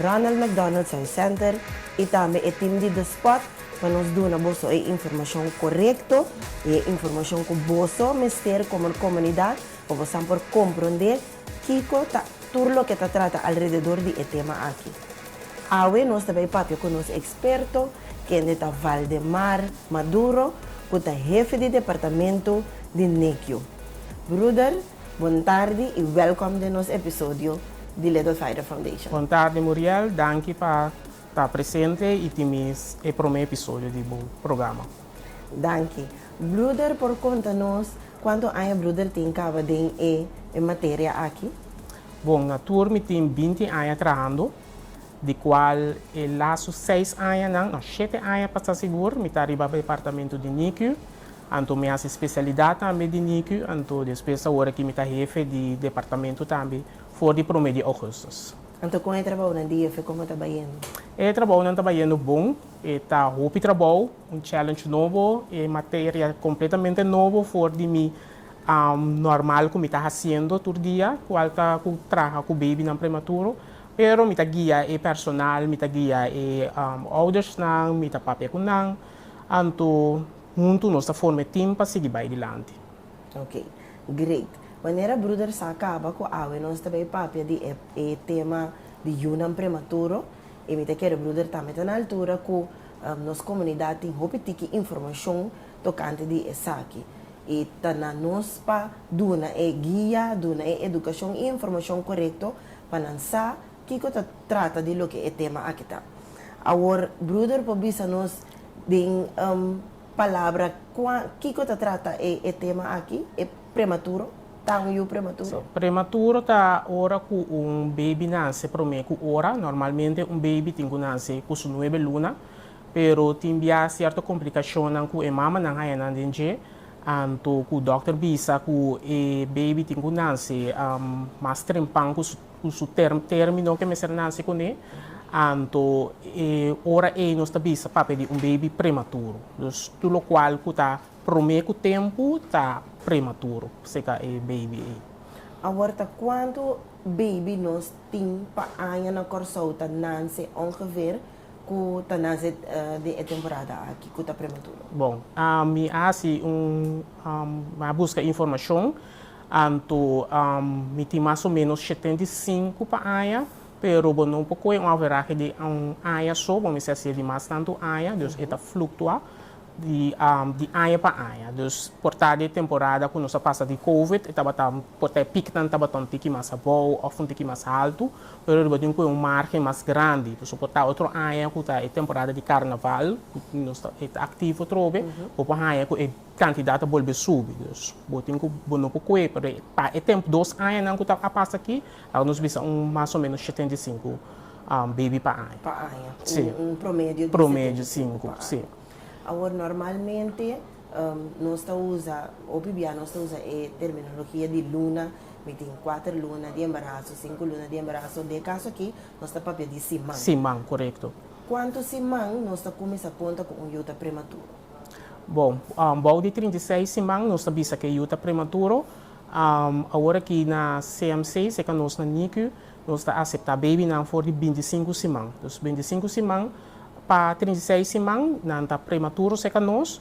Ronald McDonald Science Center y tambe e team di The Spot pa nos duna boso e informacion corecto y e informacion cu boso mester como comunidad pa boso por compronde kico ta tur loke ta trata alrededor di e tema aki. Awe nos ta bay papia cu nos experto kende ta Valdemar Maduro cu ta hefe di departamento di NICU. Bruder. Bon tardi y welcome den nos episodio di Little Fighter Foundation. Bon tarde Muriel, danki pa ta presente y tin mes e prome episodio di bo programa. Danki. Bruder por conta nos cuanto aña bruder tin caba den e e materia aki? Bon, na tur mi tin binti aña trahando, di cual e lasu seis añanan, no, shete aña pa sta sigur, mi ta riba departamento di NICU. Anto mi hasi specialidad tambe di NICU, anto despues awor aki mi ta hefe di departamento tambe for di prome di augustus. Anto con e trabounan di hefe como ta bayendo? E trabounan ta bayendo bon, e ta hopi trabou, un challenge nobo, e materia completamente nobo for di mi normal cu mi ta haciendo tur dia, cual ta cu traha cu babynan prematuro, pero mi ta guia e personal, mi ta guia e oudersnan, mi ta papia cu nan. Anto huntu nos ta forma e team pa sigui bai dilanti. Ok. Great. Manera bruder sa caba cu awe nos ta bay papia di e e tema di yunan prematuro y mi ta kere bruder tambe ta na altura cu nos comunidad tin hopi tiki informacion tocante di esaki y ta na nos pa duna e guia, duna e educacion y informacion corecto pa nan sa Kiko ta trata di loke e tema aki ta? Awor bruder por bisa nos den un palabra kua kiko ta trata e e tema aki, e prematuro, ta un yu prematuro? Prematuro ta ora ku un baby nase promé ku ora. Normalmente un baby tin ku nase ku su nuebe luna, pero tin bia sierto komplikashonnan ku e mamanan hañanan den dje, anto ku dòkter bisa ku e baby tin ku nase mas trempan ku su. cu su termino ke mester naci cune, anto e ora ey nos ta bisa papia di un baby prematuro. Dus tur lo cual cu ta prome cu tempo ta prematuro seca e baby ey. Awor ta cuanto baby nos tin pa aña na Corsou ta nance ongeveer cu ta nance den e temporada aki cu ta prematuro? Bon, mi a haci un, mi a busca informacion Anto mi tin mas o menos shetenta i sinku pa aña, pero bo no por koe un averahe di un aña so, bo mester hasié di mas tantu aña, dus e ta fluktuá di di aña pa aña. Dus por ta di e temporada ku nos a pasa di covid, e tabata por ta e piknan tabata un tiki mas abou òf un tiki mas haltu, pero riba di un koe un margen mas grandi. Pasobra por ta otro aña ku ta e temporada di karnaval, ku nos ta e ta aktivo atrobe, bo por haña ku e. Cantidad ta bolbe subi, dus bo tin cu bo no por coe pa e pa e tempo dos añanan cu ta a pasa aki, laga nos bisa un mas o menos shetenta i sinku baby pa aña. Pa aña, un un promedio di setenta i sinku pa aña. Si, promedio di sinku, si. Awor normalmente nos ta usa, hopi bia nos ta usa e terminologia di luna, mi tin kuater luna di embaraso, sinku luna di embaraso, den e caso aki nos ta papia di siman. Siman, corecto. Cuanto siman nos ta cuminsa conta cu un yu ta prematuro? Bon, bou di trinta i seis siman nos ta bisa ke yu ta prematuro. Awor aki na CMC, seka nos na NICU, nos ta aseptá bebinan for di binti sinku siman. Dus binti sinku siman pa trinta i seis siman nan ta prematuro seka nos.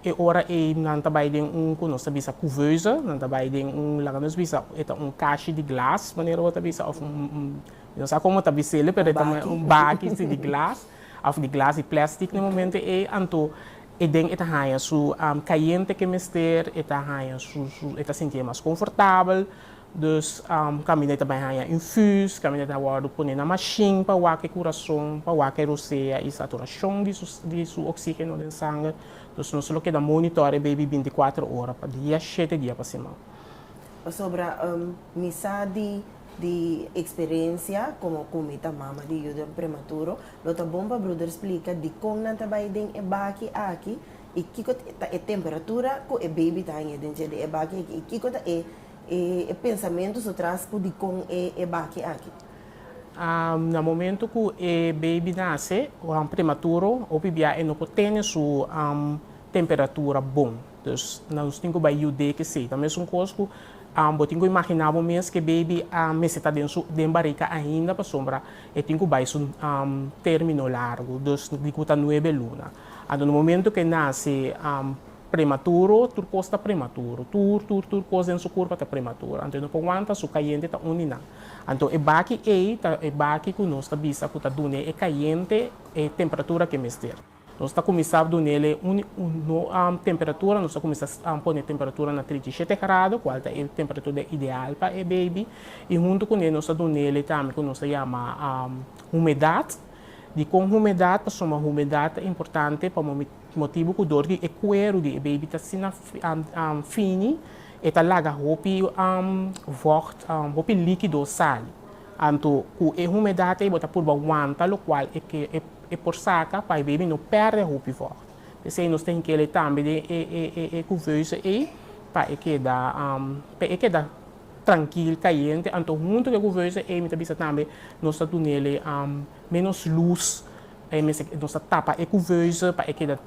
E ora ei nan ta bai den un ku nos ta bisa couveuse, nan ta bai den un, laga nos bisa e ta un kashi di glas manera bo ta bisa òf un, mi no sa komo ta bis'el pero e ta un baki si di glas. Of di glas di plèstik na momento ei, anto e den e ta haña su kayente ke mester, e ta haña su, e ta sintié mas konfortabel. Dus kaminda e ta bai haña infus, kaminda e ta wòrdu pone na mashin pa wak e kurason, pa wak e rosea i saturashon di su oksígeno den sanger. Dus nos lo keda monitore e beibi bintikwatro ora pa dia, shete dia pa siman. Pasobra mi sa di Di eksperensia komo ku mi ta mama di yudor prematuro, lo ta bon pa bruder splika dikon nan ta bai den e baki aki i kiko ta e temperatura ku e beibi ta haña den dje di e baki aki i kiko ta e e pensamentu so tras ku dikon e e baki aki. Na momentu ku e beibi nase, prematuro, hopi bia e no por tene su temperatura bon. Dus, nos tin ku bai yud'é ke seita. Mesun kos ku bo tin ku imaginá bo mes ku e beibi a mester ta den su den barika ainda pasobra e tin ku bai su término largu, dus di ku ta nuebe luna. Anto na momentu ku e nase prematuro, tur kos ta prematuro. Tur, tur, tur kos den su kurpa ta prematuro. Anto e no por wanta, su kayente ta uni nan. Anto e baki ei ta e baki ku nos ta bisa ku ta dun'é e kayente e temperatura ku e mester. Nos ta kuminsá dun'el e un temperatura, nos ta kuminsá pone temperatura na trinta i shete grado, kual ta e temperatura ideal pa e beibi, i huntu kuné nos ta dun'el tambe ku nos ta yama humedat. Dikon humedat? Pasobra humedat ta importante pa motibu ku dor di e kueru di e beibi ta asina fini, e ta laga hopi vògt, hopi líkido sali. Anto ku e humedat ei bo ta purba wanta lokual e por saka pa e bebi no pèrdè hopi vògt. P'esei nos tin kele tambe den e kuveuze ei pa e keda pa e keda trankil, kayente. Anto huntu ku e kuveuze ei mi ta bisa tambe nos ta dun'e menos lus, nos ta tapa e kuveuze pa e keda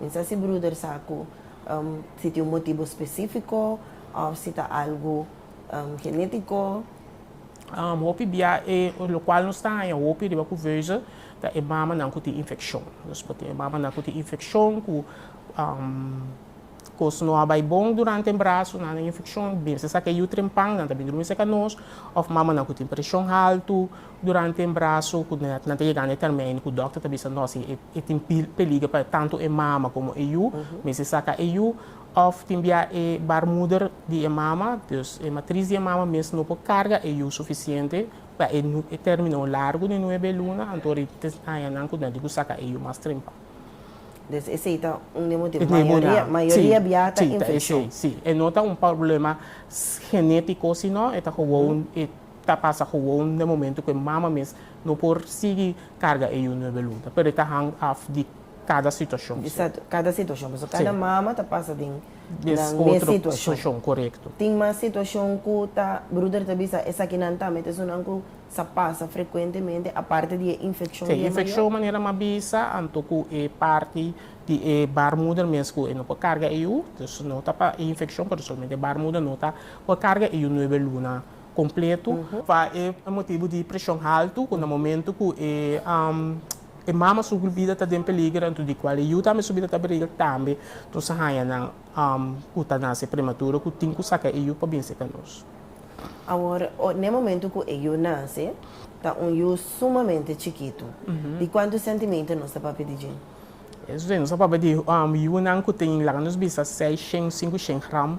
Mi sa si bruder sa ku si tin un motibu spesífiko òf si ta algu genétiko. Hopi bia e lokual nos ta haña hopi riba ku veuze ta e mamanan ku tin infekshon. Nos por tin e mamanan ku tin infekshon ku kos no a bai bon durante embraso, nan den infekshon, binsesa ku e yu trempannan ta bini durmi serka nos, òf mamanan ku tin preshon haltu. Durante e embraso ku nan ta yega na e termino ku dòkter ta bisa nos si e tin peliger pa tantu e mama komo e yu, mester saka e yu òf tin bia e baarmoeder di e mama, dus e matris di e mama mes no por karga e yu sufisiente pa e e término largu di nuebe luna, anto ri tin añanan ku nan tin ku saka e yu mas trempa. Des esei ta un di e motibu. Mayoria mayoria bia ta infekshon. Sí, ta esei, sí. E no ta un pòrblema genétiko, sino e ta gewoon e. Ta pasa gewoon den momento cu e mama mes no por sigui carga e yu nuebe lunta, pero e ta hang af di cada situacion. Exacto, cada situacion pasobra cada mama ta pasa den nan mes situacion. Tin mas situacion cu ta bruder ta bisa esakinan tambe ta esunnan cu sa pasa frecuentemente aparte di e infeccion di e mayor. Infeccion manera m'a bisa anto cu e parti di e baarmoeder mes cu e no por carga e yu, dus no ta pa e infeccion pero solamente e baarmoeder no ta por carga e yu nuebe luna. completo pa e motibo di presion halto cu na momento cu e mama su vida ta den peliger anto di cual e yu tambe su vida ta peliger tambe nos a haya nan cu ta nace prematuro cu tin cu saca e yu pa binse ca nos. Awor n'e momento cu e yu nace ta un yu sumamente chikito di cuanto sentimento nos ta papia di dje? Eso ta nos a papia di yunan cu tin laga nos bisa seis shen, cinco shen gram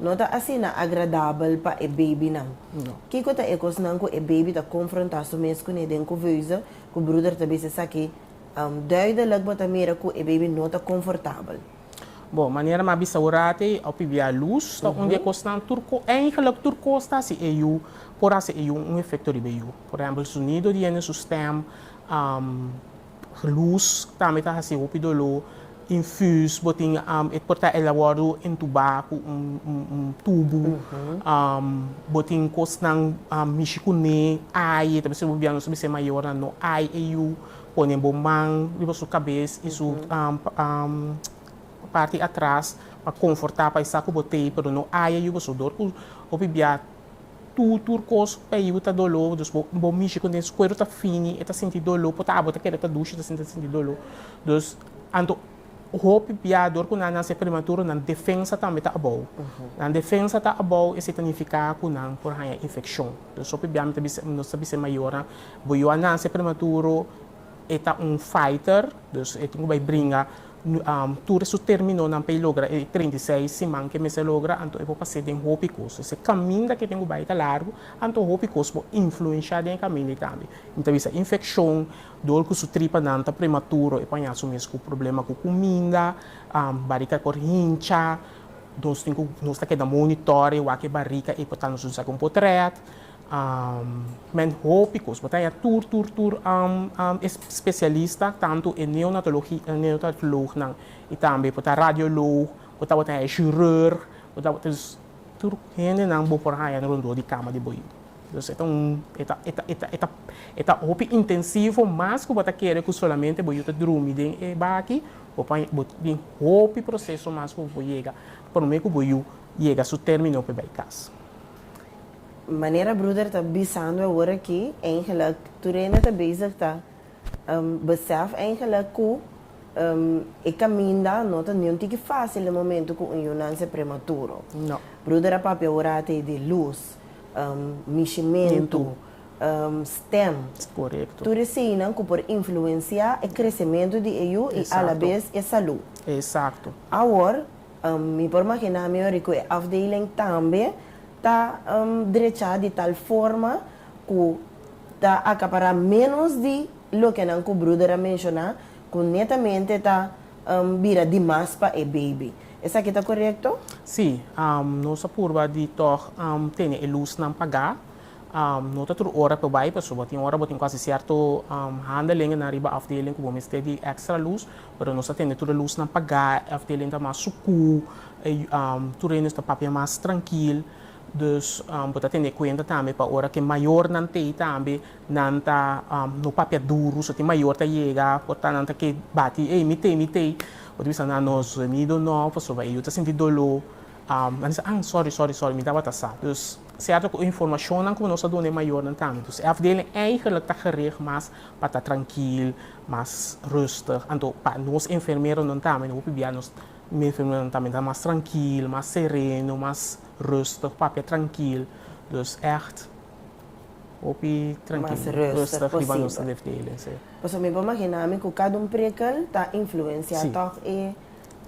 No ta asina agradabel pa e babynan. Kiko ta e kosnan ku e baby ta konfrontá su mes kuné den kuveuze ku bruder ta bisa esaki? Duidelik bo ta mira ku e baby no ta konfortabel. Bon, manera mi a bisa orate, a pibia lus, ta un di e kosnan tur ko, eigenlik tur kos ta hasi e yu, por hasi e yu un efekto riba e yu. Por ehèmpel, su sonido di hende, su stèm, Luz tambe ta hasi hopi doló. Infus bo tin e por ta elawòrdu entubá ku un tubu. Bo tin kosnan mishi kuné ai, e ta bisti bo bia nos ta bisti e mayornan no ai e yu. Pone bo man riba su kabes i su parti atras pa konfortá pa e sa ku bo tei, pero no ai e yu pasobra dor ku hopi bia. Tur tur cos pa yiu ta dolor, dus bo bo mishi con den cuero ta fini e ta sinti dolor por ta abo ta keda ta dushi ta sinti ta sinti dolor, dus anto hopi bia dor cu nan nace prematuro nan defensa tambe ta abou, nan defensa ta abou esey ta nifica cu nan por haya infeccion, dus hopi bia mi ta bisa nos ta bisa e mayornan bo yiu a nace prematuro, E ta un fighter, dus e tin ku bai bringa tur e su terminonan pa e logra e treinta i seis siman ku e mester logra, anto e por pas'é den hopi kos. Entonces e kaminda ku e tin ku bai ta largu, anto hopi kos por influenshá den e kaminda ei tambe. Mi ta bisa infekshon, dor ku su tripanan ta prematuro, e por haña su mes ku problema ku kuminda, barika por hincha, nos tin ku nos ta keda monitore wak e barika ei por ta nos un sa ku un por trèt. Amén hopi cos bo ta haya tur tur tur specialista tanto e neonatolog nan y tambe bo ta radiolog bo ta bo ta haya chirurg bo ta bo ta dus tur hende nan bo por haya rondor di cama di bo ey entonces eta un eta eta eta eta eta hopi intensivo mas cu bo ta kere cu solamente bo yu ta drumi den e baki bo por bo tin hopi proceso mas cu bo por yega prome cu bo yu yega su termino pa bay cas. Manera bruder ta bisando aworakí, eigenlik tur hende ta bezig ta besèf eigenlik ku e kaminda no ta niun tiki fásil den momentu ku un yu nanse prematuro. Bruder a papia aworaté di lus, nishimentu, stèm, tur eseinan ku por influensiá e kresementu di e yu i alabes e salú. Awor. Mi por maginá mi ori ku e afdeling tambe ta drechá di tal forma ku ta akapará ménos di loke nan ku bruder a menshoná ku netamente ta bira di mas pa e beibi. Esaki ta korekto? Sí. Nos a purba di tòg tene e lusnan pagá. No ta tur ora pa bai pasobra tin ora bo tin ku hasi sierto handelingennan riba afdeling ku bo mester di èkstra lus. Pero nos ta tende tur e lusnan pagá, e afdeling ta mas sukú, e tur rendenan ta papia mas trankil. Dus bo ta tene kuenta tambe pa ora ku e mayornan t'ei tambe nan ta no papia duru, so tin mayor ta yega por ta nan ta ke bati, ey mi t'ei, mi t'ei, bo ta bisa nan no zuemido no, pasobra yu ta sinti doló, nan bisa an sòri, sòri, sòri mi tabata sa. Cierto cu e informacionnan cu nos a duna e mayornan tambe. Dus e afdeling eigenlijk ta gericht mas pa ta trankil, mas rustig. Anto pa nos enfermeronan tambe, no hopi bia nos enfermeronan tambe ta mas trankil, mas sereno, mas rustig, papia trankil. Dus echt hopi trankil, rustig riba nos afdeling, si. Pasobra mi por magina mi cu cada un prekel ta influencia tog e.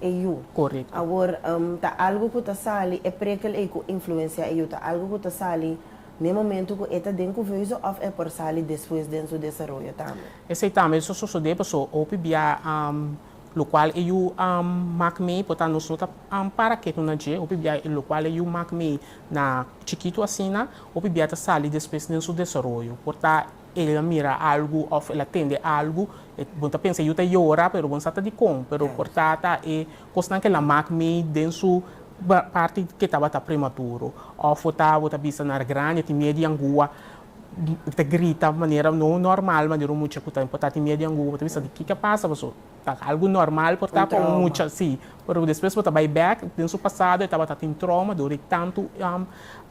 e yu. Korekto. Awor ta algu ku ta sali e prekel ei ku influensia e yu ta algu ku ta sali na e momentu ku e ta den ku huizo òf e por sali despues den su desaroyo tambe? Esei tambe ta sosodé paso hopi bia lokual e yu mak mei por ta nos no ta para ketu na dje. Hopi bia lokual e yu mak mei na chikitu asina hopi bia ta sali despues den su desaroyo por ta. El a mira algu of el a tende algu, bon ta pensa yu ta yora pero bon sa ta dikon, pero por tata e kosnan ke el a mak mi den su parti ke tabata prematuro. Of bo ta bo ta bista na grandi e tin miedu di angua, e ta grita manera no normal manera un mucha ku ta por ta tin miedu di angua bo ta bisa di kiko a pasa paso ta algu normal por ta pa un mucha si, pero despues bo ta bai bek den su pasado e tabata tin troma dor di tantu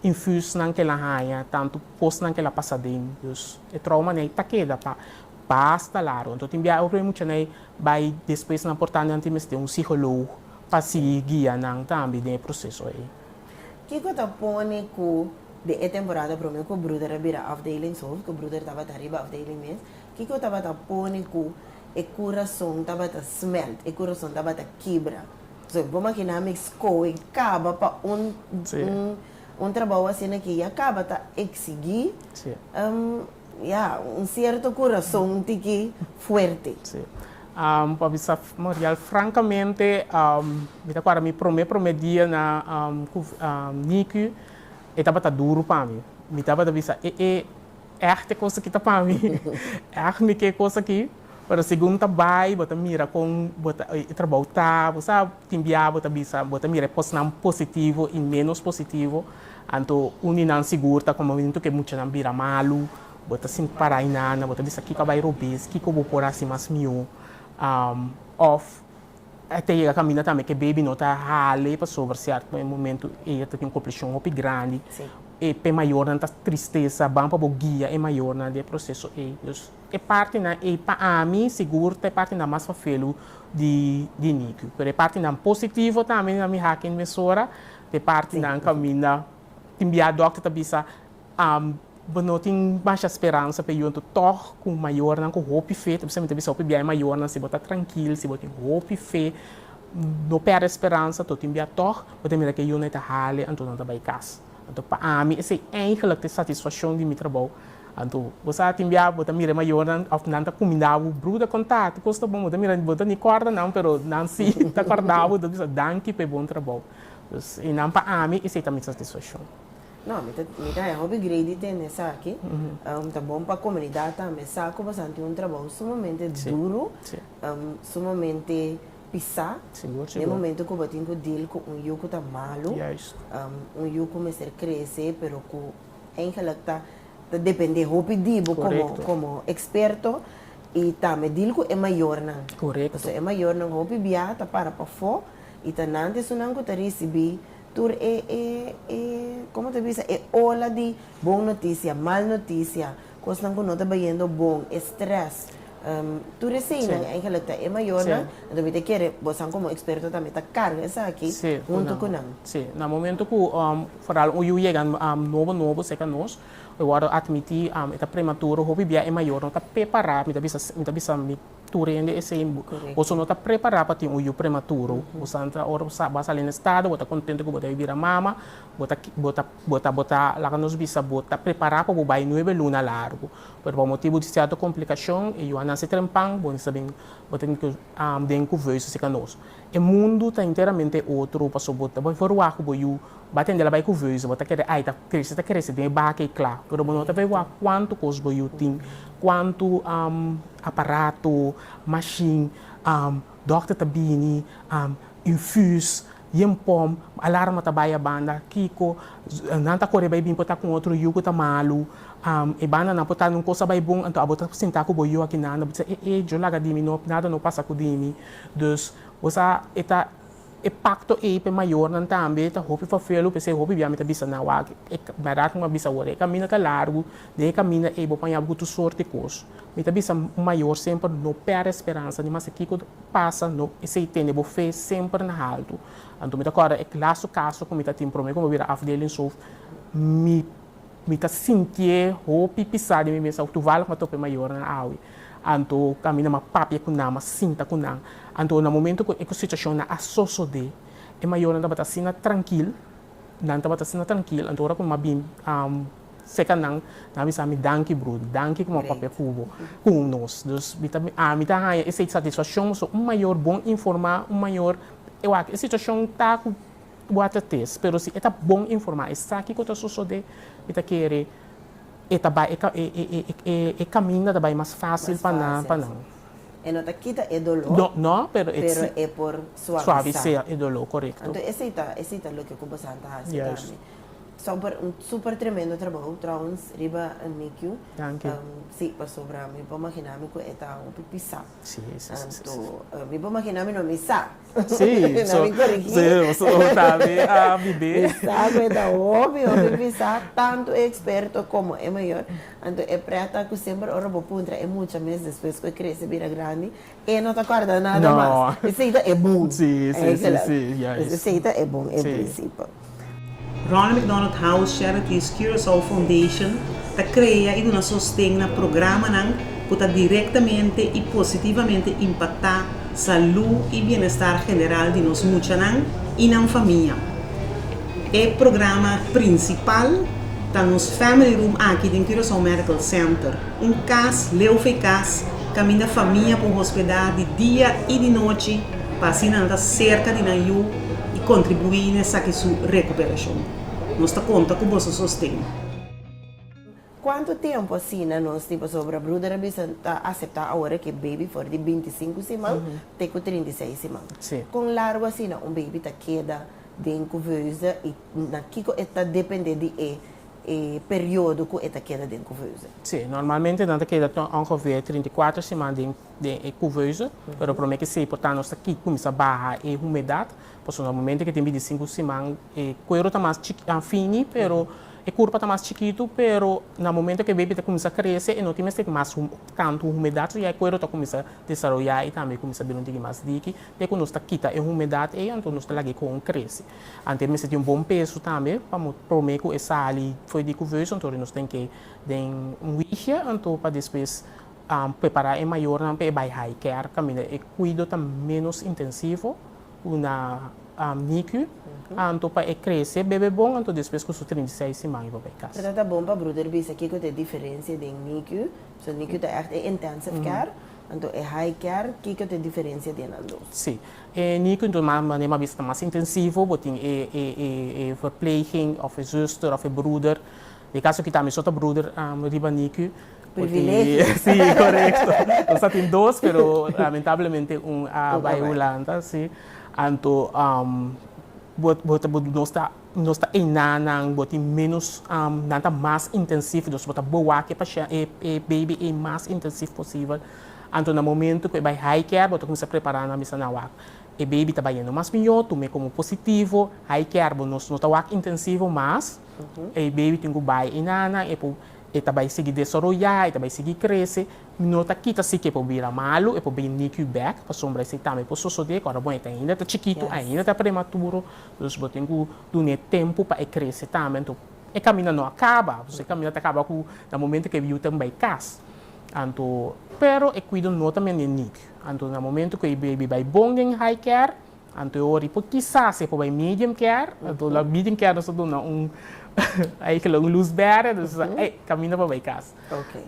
infusnan ke el a haña tantu. Kosnan ke la pasa den, dus e trouma nei ta keda pa basta largo. Anto tin biaha obrei mucha nei bai despues nan por ta nan tin mester un siholoog pa sigui guia nan tambe den e proseso ei. Kiko ta pone ku den e temporada promé ku bruder a bira afdelingshoof, ku bruder tabata riba afdeling mes, kiko tabata pone ku e kurason tabata smelt, e kurason tabata kibra? Bo makiná mi skoe kaba pa un un. Un trabou asina ki ya kaba ta eksigí ya un sierto kurason un tiki fuerte. Sí. Pa bisa Marial frankamente, mi ta kuarda mi promé promé dia na NICU, e tabata duru pa mi. Mi tabata bisa, e e ègt e kos aki ta pa mi? Ègt mi ke kos aki? Pero segun bo ta bai, bo ta mira kon bo ta, e trabou ta. Bo sa tin biaha bo ta bisa, bo ta mira e kosnan positivo i ménos positivo. Anto un di nan sigur ta kon bo miran tur ku e muchanan bira malu. Bo ta sinti pará hinana, bo ta bisa kiko a bai robes, kiko bo por hasi mas mihó. Òf e ta yega kaminda tambe ku e bebi no ta hale pasobra sierto e momentu ella ta tin un komplishon hopi grandi. E pe mayornan ta tristesa, ban pa bo guia e mayornan den e proseso ei. E partinan ei pa ami sigur ta e partinan mas fafelu di di nicu. Pero e partinan positivo tambe na mi haki en mesora, ta e partinan caminda tin bia dokter ta bisa bo no tin masha speransa pa e yunto tog cu mayornan cu hopi fe, ta bisa mi ta bisa hopi bia e mayornan si bo ta trankil, si bo tin hopi fe no perde speransa, to tin bia tog, bo ta mira cu e yunnan e ta hali anto nan ta bay cas. Anto pa ami es ei eigenlijk te satisfaccion di mi trabou. Anto bo sa tin bia bo ta mira e mayornan of nan ta cuminda bo bru ta conta hatu cos ta bon, bo ta mira bo ta ni corda nan pero nan si ta corda bo ta bisa danki p'e bon trabou. Dus e nan pa ami es ei ta mi satisfaccion. No, mi ta mi ta haña hopi gredi den esaki. Ta bon pa comunidad tambe sa cu bosan tin un trabou sumamente duro, sumamente pisá, den momento ku bo tin ku deal ku un yu ku ta malu, un yu ku mester krese pero ku eigenlik ta dependé hopi di bo komo eksperto i tambe deal ku e mayornan. Pasobra e mayornan hopi biaha ta para pafó i ta nan di esunnan ku ta risibí tur e, komo ta bisa, e ola di bon notisia, mal notisia. Kosnan ku no ta bayendo bon, e strès, tur eseinan eigenlijk ta e mayornan. Anto mi ta kere bosan komo eksperto tambe ta karga esaki huntu ku nan. Sí, na momento ku foral un yu yega nobo nobo serka nos, e wòrdu atmití, e ta prematuro, hopi bia e mayor no ta pepará, mi ta bisa mi ta bisa mi tur hende esei, boso no ta prepará pa tin un yu prematuro. Boso antra ora bo sa bo a sali na estado bo ta kontento ku bo debe bira mama, bo ta bo ta. Bo ta bo ta, laga nos bisa bo ta prepará pa bo bai nuebe luna largu, pero pa motibu di sierto komplikashon e yu a nase trempang, bo mester bin, bo ta bin ku den ku veusa si kanoso. E mundu ta enteramente otro, paso bo ta bai for waku bo yu, bo a tende la bai ku veusa, bo ta kere ai ta krese ta krese den e baka ei kla, pero bo no ta bai waku kuantu kos bo yu tin, kuantu aparato, mashin, dòkter ta bini, infus, Yen pom, alarma ta bai abanda, kiko, nan ta kore bai bin por ta con otro yugo ta malu, am, e banda nan por ta un cosa bai bon, anto abo ta sinta cu bo yo aki nada, bo ta sa e e, yo laga di mi no, nada no pasa cu di mi, dus bo sa e ta e pacto ey p'e mayornan tambe ta hopi fafelu p'esey hopi bia mi ta bisa nan wak, e berdad cu mi a bisa awor, e camino ta largo, Den e kaminda ei bo paña gutu sort di kos. Mi ta bisa un mayor semper no pèrdè speransa ni mester kiko pasa no esei tene bo fe semper na haltu. Anto mi ta kòrda e lastu kaso ku mi ta tin promé ku mi bira afdeling sof mi mi ta sintié hopi pisá di mi mes awe tuval ku mi a top'e mayornan awe anto kaminda mi a papia ku nan mi a sinta ku nan anto na momentu ku e situashonnan a sosodé e mayornan tabata asina trankil nan tabata asina trankil anto ora ku mi a bin Seca nan a bisa mi danki bro, danki kuma papia cu bo cun nos. Dus mi ta ami ta haya esey satisfaccion bo so un mayor bon informa, un mayor e wak e situacion ta cu bo a trates pero si e ta bon informa esaki cu ta sosode mi ta kere e ta bay e caminda ta bay mas facil pa nan pa nan. E no ta kita e dolo pero e por suavisar e dolo corecto. Anto esey ta esey ta loke cu bosan ta haci tambe. Super un super tremendo trabou trouwens riba Mikiu. Danki. Si pasobra mi por magina mi ku e ta hopi pisa. Si si si si. Anto mi por magina mi no mi sa. Si so mi korigi. Si o ta mi a bibé. Mi sa ku e ta hopi hopi pisa tantu e eksperto komo e mayor. Anto e prèt ta ku semper ora bo puntra e mucha mes despues ku e krese bira grandi E no ta corda nada mas. No. Esey ta e bon. Si, si, si, si. Juist. Esey ta e bon, e principe. Ronald McDonald House Charities Curaçao Foundation ta crea y duna sosten na programanan cu ta directamente y positivamente impacta salud y bienestar general di nos muchanan y nan famia. E programa principal ta nos Family Room aki den Curaçao Medical Center. Un cas Leufe cas caminda famia por hospeda di dia y di nochi pa asina nan ta cerca di nan yu y contribui n'esaki su recuperacion. Nos ta conta cu boso sosten. Cuanto tempo asina nos tin pasobra bruder a bisa ta acepta ahora cu e baby for di binti i sinku siman te cu trinta i seis siman. Con largo asina un baby ta keda den cuveuze y na kico e ta depende di e. e periodo ku e ta keda den kuveuze? Sí, normalmente nan ta keda tur ongevue trinta i kuater siman den den e kuveuze, pero prome ke sey por ta nos ta ki kuminsa baha e humedat, pasobra na momento ke tin binti sinku siman e kuero ta mas chik a fini pero e kurpa ta mas chikitu, pero na momento ke baby ta kuminsa krese e no tin mester tin mas hu tantu humedat, so ya e kuero ta kuminsa desaroya i tambe kuminsa bira un tigi mas diki, te ku nos ta kita e humedat ei anto nos ta lag'e kon krese. Anto e mester tin un bon peso tambe pa prome ku e sali fo'i di kuvers, anto nos tin ke den un wichje anto pa despues prepará e mayornan pa e bai haiker kaminda e kuido ta menos intensivo ku na NICU, anto pa e krese bebe bon anto despues ku su trinta i seis siman i wak bai kas. Ta bon pa bruder bisa kiko ta e diferensia den NICU, pasobra NICU ta ègt e intensive care, anto e haiker kiko ta e diferensia di e nan dos? Sí. E niño cu duna manera mas bista mas intensivo bo tin e e verpleging of e zuster of e bruder, den e caso aki ta ami so ta bruder riba niño, bo tin e si corecto nos ta tin dos pero lamentablemente un a bay Hulanda si anto bo bo nos ta. Nos ta eina nan, bo tin menos, nan ta mas intensif, dus bo ta boa cu e baby ey mas intensif posibel. Anto na momento cu e bay hiker, bo ta cuminsa prepara nan mester nan wak. E baby ta bayendo mas mijo, tuma e como positivo, hiker bo nos no ta wak intensivo mas, e baby tin cu bay eina nan, e por e ta bay sigui desaroya, e ta bay sigui crece, no ta kita si cu e por bira malo, e por bay NICU back, pasobra esey tambe por sosode cu ora bo e ta ainda ta chikito, ainda ta prematuro. Nos bo tin cu duna e tempo pa e crece tambe. Anto e camina no a caba. E camina ta caba cu na momento cu e biu ta bai cas. Anto, pero e cuido no ta mende nibi. Anto na momento cu e baby bai bon den high care, anto e ora y por kisas e por bai medium care. Anto na medium care nos ta duna un ayke un luz berde, nos ta sa, ey, camina pa bai cas.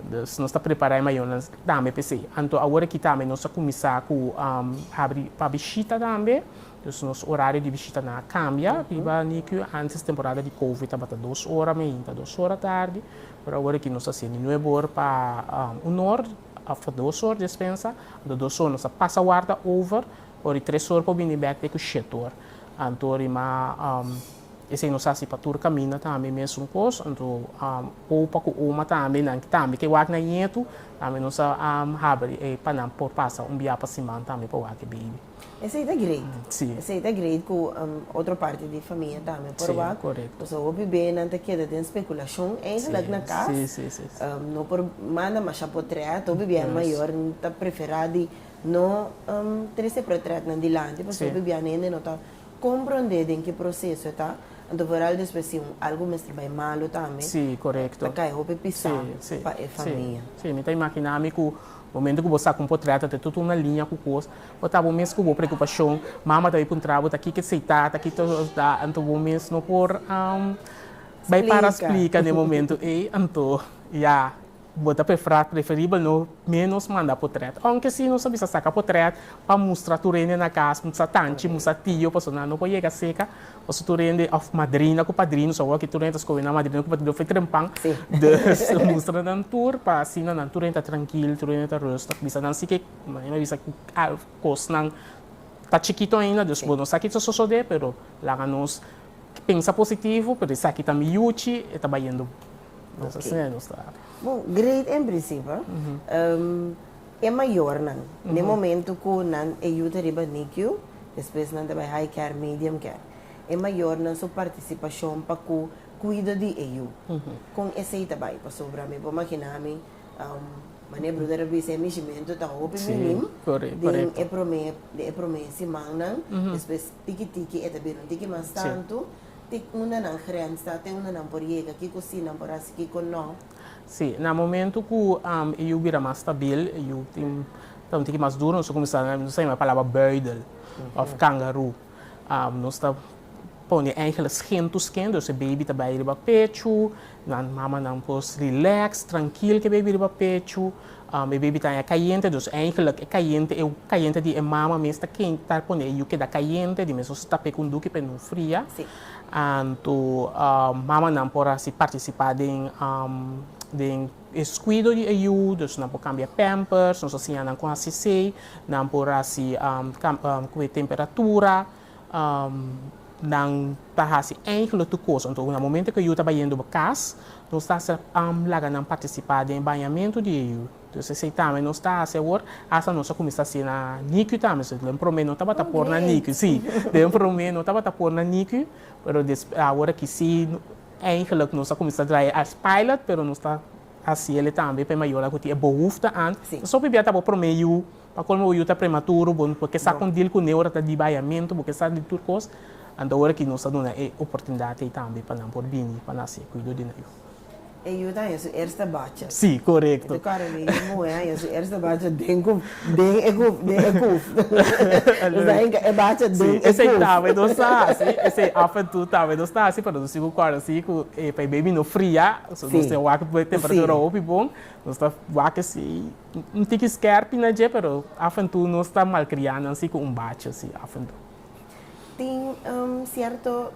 Dus nos ta prepara e mayonan tambe pa esey. Anto awor aki tambe nos a cuminsa cu habri pa bishita tambe. Dus nos orario di bishita nan a cambia riba NICU. Antes temporada di covid tabata dos ora mainta, dos ora tardi, pero awor aki nos ta haciendo nuebe ora pa un or of dos or despensa, anto dos or nos a pasa warda over ora di tres or por bini back te cu shet or. Anto rima esey nos a haci pa tur caminda tambe mesun cos, anto opa cu oma tambe nan tambe ke wak na yetu tambe nos a habri pa nan por pasa un biaha pa siman tambe pa wak e baby. Esei ta great. Sí. Esei ta great ku um, otro parti di famia tambe por Sí, wak. correcto. Pasobra hopi be nan ta keda den speculashon eigenlijk Sí, na kas. sí, sí, sí, sí. Um, no por manda masha potrèt. Hopi bia Yes. mayor ta preferá di no um, trese potrètnan dilanti pasobra Sí. hopi bia nan hende no ta komprondé den ki proseso e ta. Anto por al despues si un algu mester bai malu tambe. Sí, correcto. Ta kai hopi pisá Sí, sí, pa e sí, famia. sí. Mi ta imaginá mi ku momento ku bo saka un potrèt ta ten totun na liña ku kos. Bo ta bo mes ku bo preokupashon. Mama ta bai puntra bo ta kiko e seitá, ta kiko e osdá, anto bo mes no por bai para splika den e momentu ei. Anto ya bo ta preferibel no ménos manda potrèt. Ounke si nos a bisa saka potrèt pa mustra tur hende na kas, nos a tanchi, nos a tio, pasobra nan no por yega seka, pasobra tur hende òf madrina ku padrino, nos awor aki tur hende ta skohe nan madrina ku padrino fai trempan. Dus mustra nan tur pa asina nan tur hende ta trankil, tur hende ta rùstig, bisa nan si ke. Maria a bisa cu cosnan ta chikito ainda, dus bo no sa kico sosode, pero laga nos pensa positivo, pero esaki ta mi yuchi, e ta bayendo bos. Asina e nos ta. Bo, great en principio. E mayornan, na e momento cu nan e yu ta riba NICU, despues nan ta bay high care, medium care, e mayornan su participacion pa cu cuido di e yu, con esey ta bay? Pasobra mi por magina mi Mane bruder a bisa e mishimento ta hopi minim den e prome den e prome simannan despues tiki tiki e ta bira un tiki mas tantu te unda nan grens ta te unda nan por yega kiko si nan por hasi kiko no. Si na momento ku e yu bira mas stabil e yu tin ta un tiki mas duru nos a kuminsá nos a yama e palabra buidel of kangaru. Nos ta pone engeles gentu sken, dus e baby ta bai riba pechu, nan mamanan pues relax, trankil ku e baby riba pechu. E baby ta haña kayente, dus eigenlijk e kayente, e kayente di e mama mes ta ken, ta pone e yu keda kayente, di mes nos tape kun duki pa e no fria. Anto mamanan por hasi partisipa den den. Es cuido di e yu, dus nan por cambia pampers, nos a siña nan con haci esey, nan por haci cue temperatura, nan ta haci eingelo tur cosa. Enton na momento cu e yu ta bayendo cas, nos ta laga nan participa den e bañamento di e yu. Dus esey tambe nos ta haci awor, hasta nos a cuminsa haci na nicu tambe. So den prome no tabata por na nicu, si, den prome no tabata por na nicu, pero awor aki si. Eigenlijk nos a kuminsá drai e as pilot pero nos ta hasi ele tambe pa e mayornan ku tin e bohufta ant. Pasobra p'ia ta bo promé yu, pa kolmo bo yu ta prematuro, bo bo ke sa kon dil kuné ora ta di bayamentu, bo ke sa di tur kos, ant ora aki nos ta duna e oportunidat ei tambe pa nan por bini pa nan hasi e kuido di nan yu. E yu ta haña su eerste bacha. Sí, korekto. Bo ta kòrda di yu muhé haña su eerste bacha den ku. Den e kuf, den e kuf. Nos ta hinka e bacha den e kuf. Si, esei tambe nos ta hasi. Esei af en tu tambe nos ta hasi, pero nos tin ku kòrda si ku e pei baby no fria. So nos tin wak e temperatura hopi bon. Nos ta wak esei un tiki skèrpi na dje, pero af en tu nos ta malkriá nan si ku un bacha si af en tu. Tin sierto,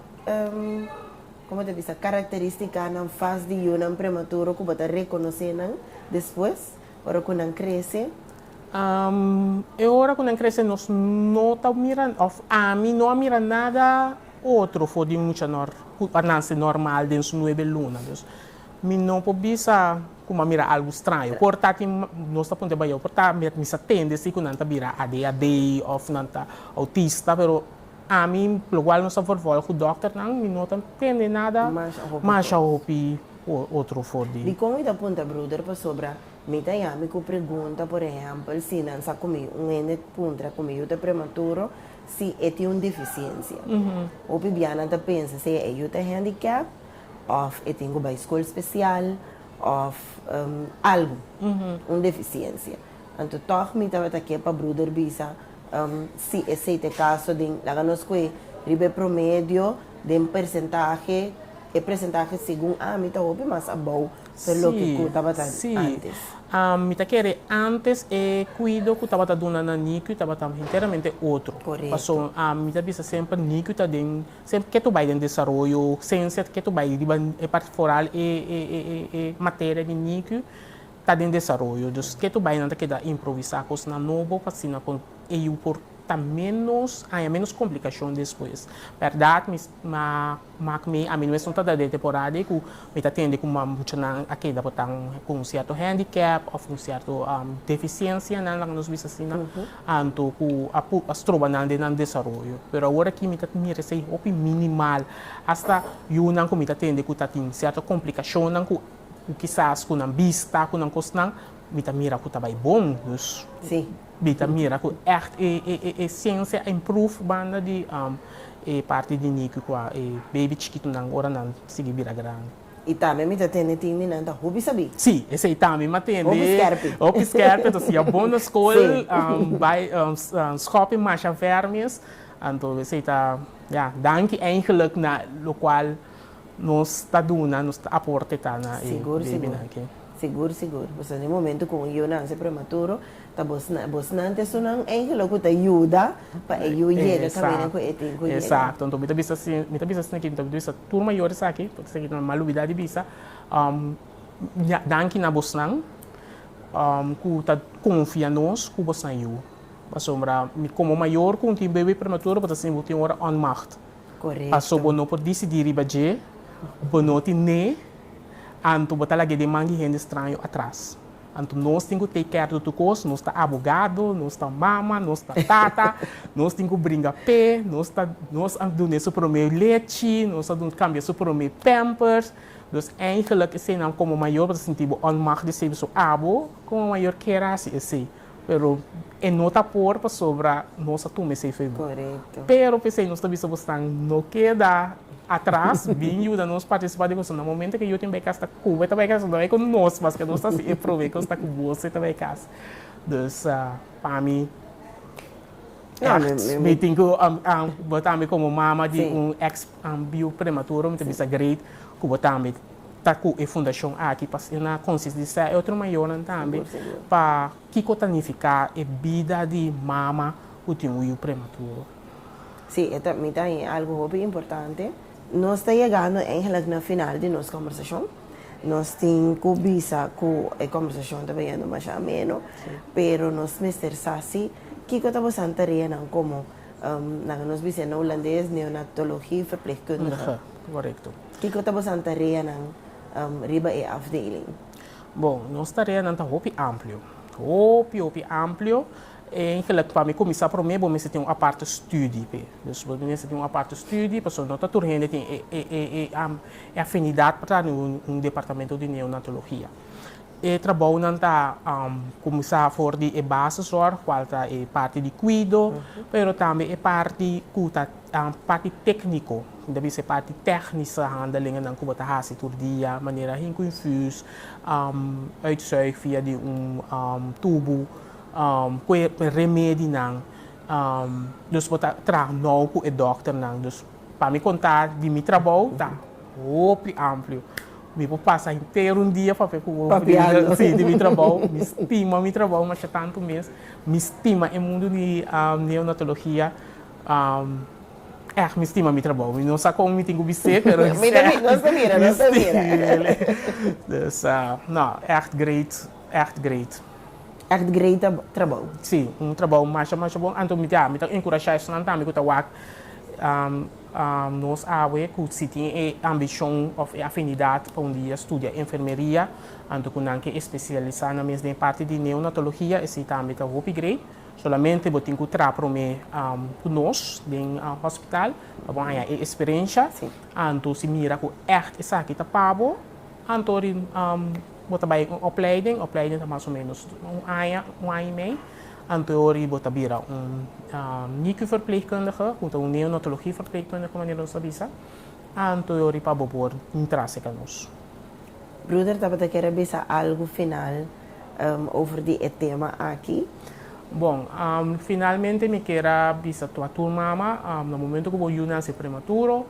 komo ta bisa, karakterístikanan fas di yunan prematuro ku bo ta rekonosé nan despues? Ora ku nan krese. E ora ku nan krese nos no ta mira, òf ami no a mira nada otro for di un mucha nòr ku a nanse nòrmal den su nuebe luna. Dus mi no por bisa ku mi a mira algu straño. Por ta tin nos ta punta bayaw, por ta mi sa tende si ku nan ta bira adhd òf nan ta outista, pero. Ami, logual nos a vorvòl ku dòkternan, mi no ta prende nada masha hopi otro for di. Dikon mi ta punta bruder pasobra mi ta yami ku pregunta, por ehèmpel, si nan sa ku mi, un hende puntra ku mi yu ta prematuro, si e tin un defisiensia. Hopi bia nan ta pensa sea e yu ta handicap òf e tin ku bai skol spesial òf algu, un defisiensia. Anto tog mi tabata ke pa bruder bisa, Um, si esei ta e kaso, den, laga nos koe riba e promedio den persentahe, e presentahe segun ami ta hopi mas abou ta loke ku tabata antes. Um, mi ta kere antes e kuido ku tabata duna na NICU tabata henteramente otro. Paso, um, mi ta bisa semper NICU ta den, semper ketu bai den desaroyo, sensia ketu bai riba e parti foral e, e, e, e, e materia di NICU, ta den desaroyo, dus ke tur bainan ta keda improvisá, kosnan nobo, pa asina ku e yu por ta ménos, haña ménos komplikashon despues. Bèrdat, mi sta mak mi, ami mes no ta dade temporada ei ku mi ta tende ku mambuchanan a keda botá ku un sierto hèndikèp òf un sierto defisiensianan, laga nos bisa asina, anto ku a por a stroba nan den nan desaroyo. Pero awor aki mi ta mira esei hopi minimal, asta yunan ku mi ta tende ku ta tin sierto komplikashonnan ku Cu kisas cu nan bista cu nan cosnan mi ta mira cu ta bay bon. Dus mi ta mira cu echt e e ciencia a improve banda di e parti di nicu cua e baby chikitunan ora nan sigui bira grandi. Y tambe mi ta tende tin mi nan ta hopi sabi. Si, esey tambe mi a tende. Hopi skerpi. Hopi skerpi, anto si a bon na school, bay schopi masha ver mes, anto esey ta, ya, danki eindelijk na locual Nos ta duna, nos ta aporte ta na e babynan ki. Sigur, sigur. Boso na e momento cu un yu nance prematuro, ta bosnan, bosnan ta esunnan angelo cu ta yuda pa e yu yega camina cu e tin cu yega. Exacto. Enton mi ta bisa si, mi ta bisa esnan aki, mi ta bisa tur mayor esaki, porque esaki no mal olbida di bisa, danki na bosnan cu ta confia nos cu bos ta yu. Pasobra mi como mayor cu un tin baby prematuro bo ta sinti bo tin ora onmacht. Paso bo no por disidí riba dje, bo no tin ne, anto bo ta lag'é den man di hende straño atras. Anto nos tin ku take care di tur kos, nos ta abogado, nos ta mama, nos ta tata, nos tin ku bringa p'é, nos ta nos a dun'é su promé lechi, nos a dun kambi'é su promé pampers. Dus eigelik esenan komo mayor bo ta sintí bo onmachtig sebi su abo, komo mayor kera hasi esei. Pero e no ta por pasobra nos a tuma esei fe bo. Pero p'esei nos ta bisa bosnan, no keda atras, bin yuda nos partisipa den kosnan. Momento ku Joakim bai kas ta koba e ta bai kas, no bai ku nos, paske nos ta hasi e promé kos ta ku bos e ta bai kas. Dus pa mi ècht mi tin ku bo tambe komo mama di un èks biu prematuro mi ta bisa great ku bo tambe. ta cu e fundacion aki pa na concientisa e otro mayornan tambe pa kico ta nifica e bida di mama cu tin un yu prematuro. Sí, e ta mi ta i algo hopi importante. Nos ta yegando eigenlijk na final di nos conversacion. Nos tin cu bisa cu e conversacion ta bayendo masha ameno, pero nos mester sa si kico ta bosan tareanan como, nan nos bisa na Hulandes, neonatologie, verpleegkundige. Kundige, correcto. Kiko ta boso tareanan riba e afdeling? Bon, nos tareanan ta hopi amplio. Hopi, hopi amplio. En gelijk pa mi kuminsá promé bo mester tin un aparte studi p'e. Dus bo mester tin un aparte studi pasobra no ta tur hende tin e afinidat pa traha den un departamento di neonatologia. E trabounan ta kuminsá for di e baseszorg, kual ta e parti di kuido, pero tambe e parti ku ta. Tan parti tekniko, tin ta bisa e parti teknische handelingennan ku bo ta hasi tur dia, manera hink un infuus, uitzuig via di un tubu, ku e remedinan, dus bo ta traha nou ku e dòkternan. Dus pa mi konta di mi trabou ta hopi amplio. Mi por pasa henter un dia papia ku bo Papiando. si, di mi trabou. Mi stima mi trabou masha tantu mes, mi stima e mundu di neonatologia Èh, mi stima mi trabou. Mi no sa kon mi tin ku bis'é, pero mi stima el. Dus, no, ècht greit, ècht greit. Ècht greit trabou. Sí, un trabou masha masha bon. Anto mi ta mi ta enkurashá esnan tambe ku ta wak nos awe ku si tin e ambishon òf e afinidat pa un dia studia enfermeria, anto ku nan ke espesialisá nan mes den e parti di neonatologia, esei tambe ta hopi grei. Solamente bo tin ku tra promé ku nos den hospital pa bo haña e eksperensha. Anto si mira ku ègt esaki ta pa bo, anto ri bo ta bai un opleiding. Opleiding ta mas o ménos un aña, un aña i mei. Anto e ora bo ta bira un NICU-verpleegkundige, ku ta un neonatologie-verpleegkundige manera nos ta bisa. Anto e ora pa bo por tin trase ka nos. Bruder tabata kere bisa algu final. over di e tema aki. Bon, finalmente mi kier a bisa tua tur mama, na momento ku bo yu nase prematuro,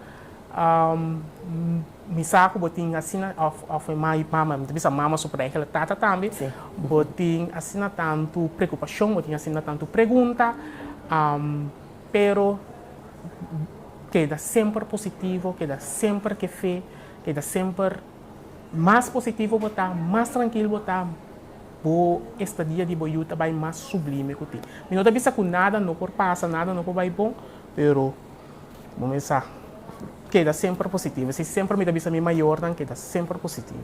mi sa ku bo tin asina, òf, òf e ma i pama, mi ta bisa mama su pero egle tata tambe, bo tin asina tantu preokupashon, bo tin asina tantu pregunta, pero keda semper positivo, keda semper ke fe, keda semper Mas positivo bo ta, mas trankil bo ta, bo estadia di bo yu ta bai mas sublime ku tin. Mi no ta bisa ku nada no por pasa, nada no por bai bon, pero bo mester keda semper positivo. Esei semper mi ta bisa mi mayornan, keda semper positivo.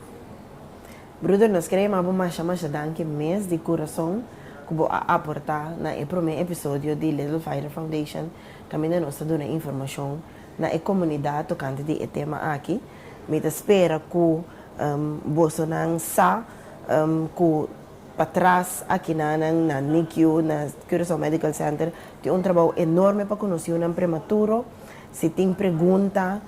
Bruder, nos kere yama bo masha masha danki mes di kurason ku bo a aportá na e promé episodio di Little Fighter Foundation kaminda nos ta duna informashon na e komunidat tokante di e tema aki. Mi ta spera ku bosonan sa ku pa tras akinan nan na NICU, na Curaçao Medical Center, tin un trabou enorme pa konoseu nan prematuro. Si tin pregunta,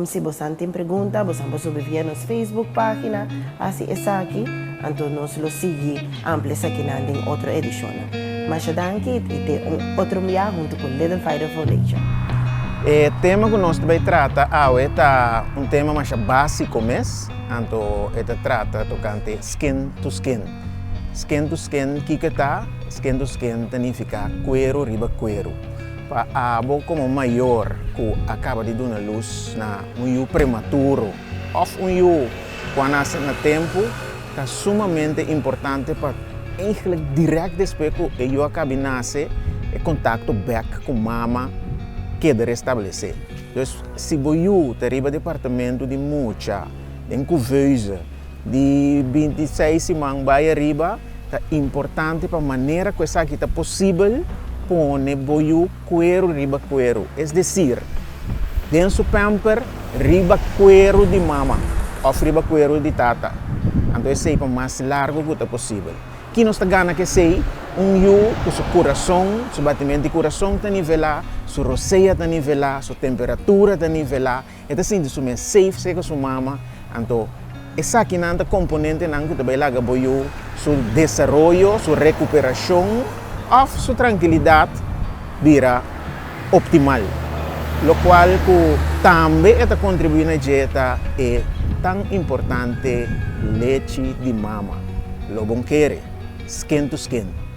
si bosan tin pregunta, bosan por subir via nos Facebook página, hasi esaki, anto nos lo sigui. Amplia esakinan den otro edishonnan. Masha danki y te un otro mia hunto cu Little Fighter Foundation. E tema cu nos ta bay trata awe ta un tema masha basico mes, anto e ta trata tocante skin to skin. Skin to skin kico e ta? Skin to skin ta nifica cuero riba cuero. Pa abo como mayor cu a caba di duna luz na un yu prematuro of un yu cu a nace na tempo, Ta sumamente importante pa eigenlijk dirèk despues ku e yu a kabi nase, e kontakto bèk ku mama keda restablesé. Dus si bo yu ta riba departamentu di mucha den couveuse di binti seis siman bai ariba, ta importante pa manera ku esaki ta posibel pone bo yu. Kueru riba kueru, es desir, den su pamper riba kueru di mama òf riba kueru di tata, anto esei pa mas largu ku ta posibel. Ki nos ta gana ku esei? Un yu ku su kurason, su batimento di kurason ta nivelá, su rosea ta nivelá, su temperatura ta nivelá, E ta sinti su mes safe serka su mama, anto esakinan ta komponentenan ku ta bai laga bo yu su desaroyo, su rekuperashon òf su trankilidat bira optimal. Lokual ku tambe e ta kontribuí na dje ta e tan importante lechi di mama, lo bon kere, skin to skin.